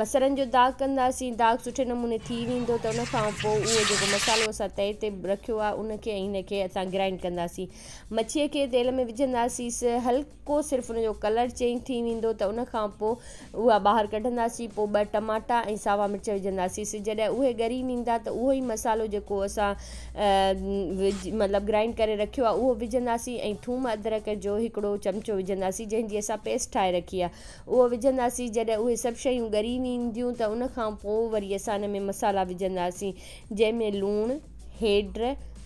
بصرن جو داغ ڪنداسين داغ سٺي نموني ٿي ويندو ته ان کان پوء اهو جيڪو مصالحو اسان تئي تي رکيو آهي ان کي ۽ هن کي اسان گرائنڊ ڪنداسين مڇي کي تيل ۾ وجهنداسيس هلڪو صرف ان جو ڪلر چينج ٿي ويندو ته ان کان پوء اها ٻاهر ڪڍنداسين پوء ٻه ٽماٽا ۽ ساوا مرچ وجهنداسيس جڏهن اهي ڳري ويندا ته اهو ئي مصالحو جيڪو اسان مطلب گرائنڊ ڪري رکيو آهي اهو وجهنداسين ۽ ٿوم ادرڪ جو هڪڙو چمچو وجهنداسين جنهن جي اسان پيسٽ ٺاهي رکي آهي اهو وجهنداسين جڏهن اهي سڀ شيون ڳري وينديون ته ان کان پوء وري اسان ان ۾ مصالحا وجهنداسين جنهن ۾ لوڻ، هيڊ،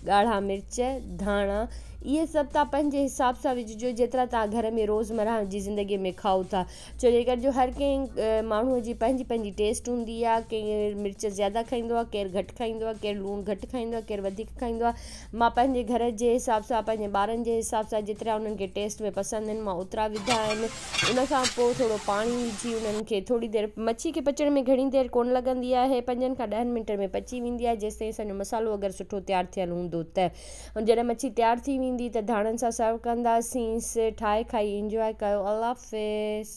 ڳاڙها مرچ، ڌاڻا اهي سڀ توهان پنهنجي حساب سان وجهجو جيترا توهان گهر ۾ روزمرهه جي زندگي ۾ کائو ٿا ڇو جي ڪري جو هر ڪنهن ماڻهو جي پنهنجي پنهنجي ٽيسٽ هوندي آهي ڪير مرچ زياده کائيندو آهي ڪير گهٽ کائيندو آهي ڪير لوڻ گهٽ کائيندو آهي ڪير وڌيڪ کائيندو آهي مان پنهنجي گهر جي حساب سان پنهنجي ٻارن جي حساب سان جيترا انهن کي ٽيسٽ ۾ پسند آهن مان اوترا وڌا آهن ان کان پوء ٿورو پاڻي وجهي انهن کي ٿوري دير مڇي کي پچڻ ۾ گهڻي دير ڪونه لڳندي آهي پنجن کان ڏهن منٽن ۾ پچي ويندي آهي جيستائين اسان جو مصالحو اگر سٺو تيار ٿيل هوندو ته جڏهن مڇي تيار ٿي ويندي ته ڌاڻن سان سرو ڪنداسينس ٺاهي کائي انجواء ڪيو الله حافظ.